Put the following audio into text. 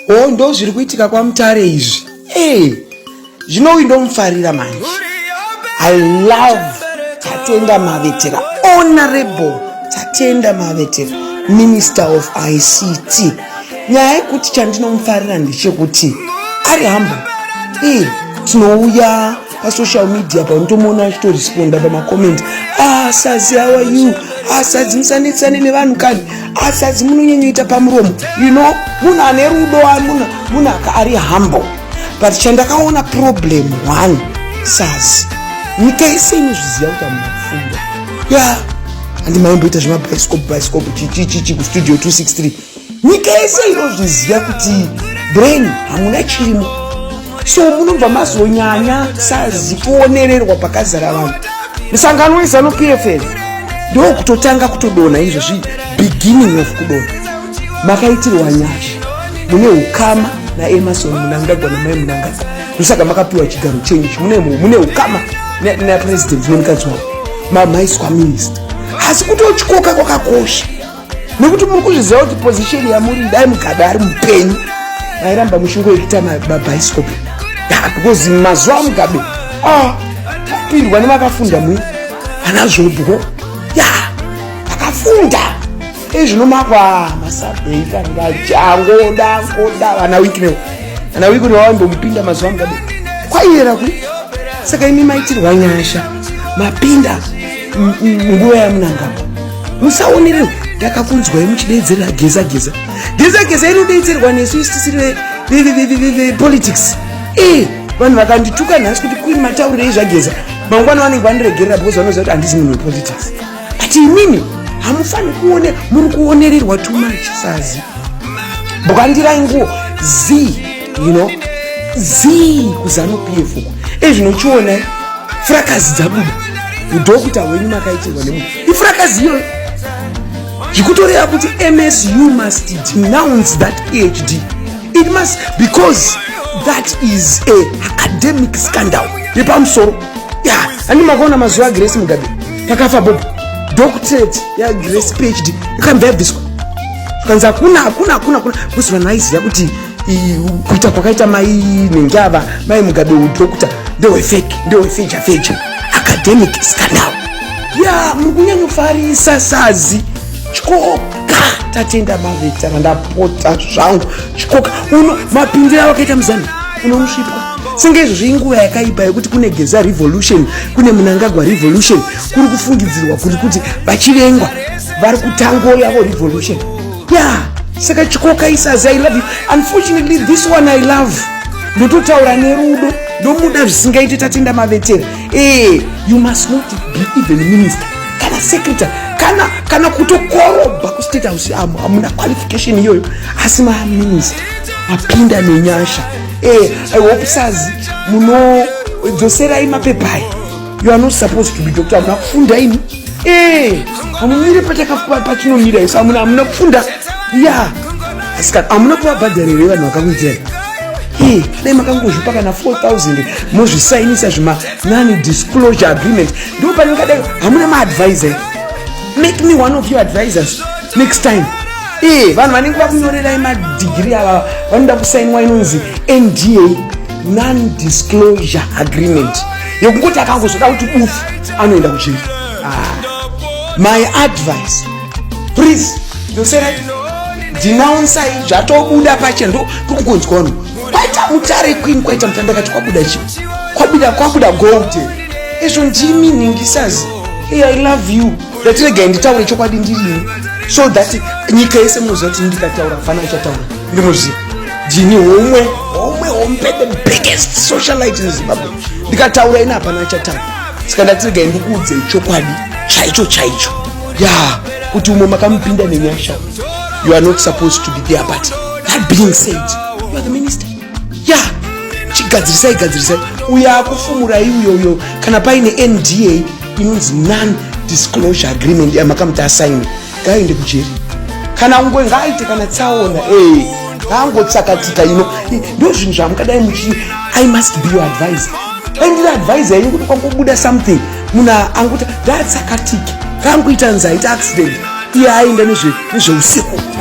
o oh, ndo zviri kuitika kwamutare izvi ee eh, zvino uyu ndomufarira manje i love tatenda mavetera honorable tatenda mavetera minister of ict nyaya yekuti chandinomufarira ndechekuti ari hambo ee eh, tinouya pasocial media pa unotomuona achitoresponda pamacoment asazi ah, awa you asadzi ah, musanetsane nevanhu kani asadzi ah, munonyanyoita pamuromo you know munhu ane rudo munhu aka ari humble but chandakaona problem one sazi nyika yese inozviziva kuti amunafundo ya yeah. andimaimboita zvemabhaisikopu bhaisikopu chichichichi kustudio 263 nyika yese inozviziva kuti brain hamuna chirimo so munobva mazonyanya sazi kuonererwa pakazara vanhu musangano wezanu pfm ndokutotanga kutodona izvozvi beginning of kudona makaitirwa nyasha mune ukama naemason munangagwa namai munangagwa ndosaka makapiwa chigaro chenyu mune ukama napresident nemukadzi wavo mamaiswa minista asi kutotyoka kwakakosha nekuti muri kuzviziva kuti position yamuri dai mugabe ari mupenyu vairamba muchingoita mabhaisikopi because mazuva amugabe ah, apindwa nevakafunda mui ana zvobwo ya vakafunda ezvino makwa masabhei kanga changoda ngoda vana wiknew vana wiknew vaimbomupinda mazuva amugabe kwaiyera ku saka imi maitirwa nyasha mapinda nguva yamunangama musaonerewo ndakakunzwai muchideedzera geza geza geza geza inodeedzerwa nesu isi tisiri vepolitics ee eh, vanhu vakandituka nhasi kuti queen mataurirei zvageza mangwana vanenge vandiregerera because vanoziva kuti handisi munhu wepolitics but imimi hamufaniri kuone muri kuonererwa too much sazi bwandirai nguo z you know z kuzano pf uku ezvinochionai eh, frakazi dzabuda udokuta hwenyu makaitirwa nemunhu ifurakazi iyoyo zvikutoreva kuti msu must denounce that phd it must because that is a academic scandal yepamusoro ya ani makaona mazuva agrace mugabe takafa bobo doctorate yagrace phd ikambva yabviswa kanzi hakuna hakuna hakuna hakuna kuzi vanhu vaiziva kuti kuita kwakaita mai nenjava mai mugabe udhokuta ndewefeki ndewefeja feja academic scandal ya muri kunyanyofarisa sazi chikoka tatenda mavetana ndapota zvangu chikoka uno mapindiro avakaita muzanu unomusvipwa senge izvozvo inguva yakaipa yekuti kune geza revolution kune munangagwa revolution kuri kufungidzirwa kuri kuti vachivengwa vari kutango yavo revolution yeah saka chikoka isazi i love you unfortunately this one i love ndototaura nerudo ndomuda zvisingaiti tatenda mavetera ee eh, you must not be even minister kana secretary kana kana kutokorobha kustate house amo hamuna qualification iyoyo asi maminister apinda nenyasha ee eh, i hope sazi munodzoserai mapepai you are not supposed to be doctor hamuna kufunda ini Eh, hamumire pachinomira isu amuna amuna kufunda ya asikana amuna kuvabhadhara here vanhu vakakuitirani eh, dai makangozvipa kana 4000 mozvisainisa zvima nani disclosure agreement ndo pane kadai hamuna maadvisor make me one of your advisors next time ee eh, vanhu vanenge vakunyorerai madigiri ava vanoda kusainwa inonzi nda non disclosure agreement yekungoti akangozvoda kuti bufu anoenda kuchiri ah. my advice please ndosera dzinaunsai zvatobuda pache ndo tokungonzwa wanu kwaita mutare kwini kwaita mutanda kati kwabuda chi kwabuda kwabuda gold izvo ndimi nhingisazi hey, i love you ndatiregai nditaure chokwadi ndirini so that nyika yese munoziva kuti ndikataura fana ichataura ndimoziva ndini homwe homwe hombe the biggest socialite in zimbabwe ndikataura ini hapana chatanga saka ndatiregai ndikuudzei chokwadi chaicho chaicho ya kuti umwe makamupinda nenyasha you are not supposed to be there but that being said you are the minister ya yeah. chigadzirisai gadzirisai uyo akufumurai uyo uyo kana paine nda inonzi non disclosure agreement yamakamuti asaini yeah, ngaende kujeri kana ungo ngaaite kana tsaona ee ngaangotsakatika ino ndo zvinhu zvamungadai muchii i must be your advisor dai ndiri advisor yenyu kuti kwangobuda something munhu anguti ndaatsakatike ngaangoita nzaita accident iye aenda nezveusiku nezve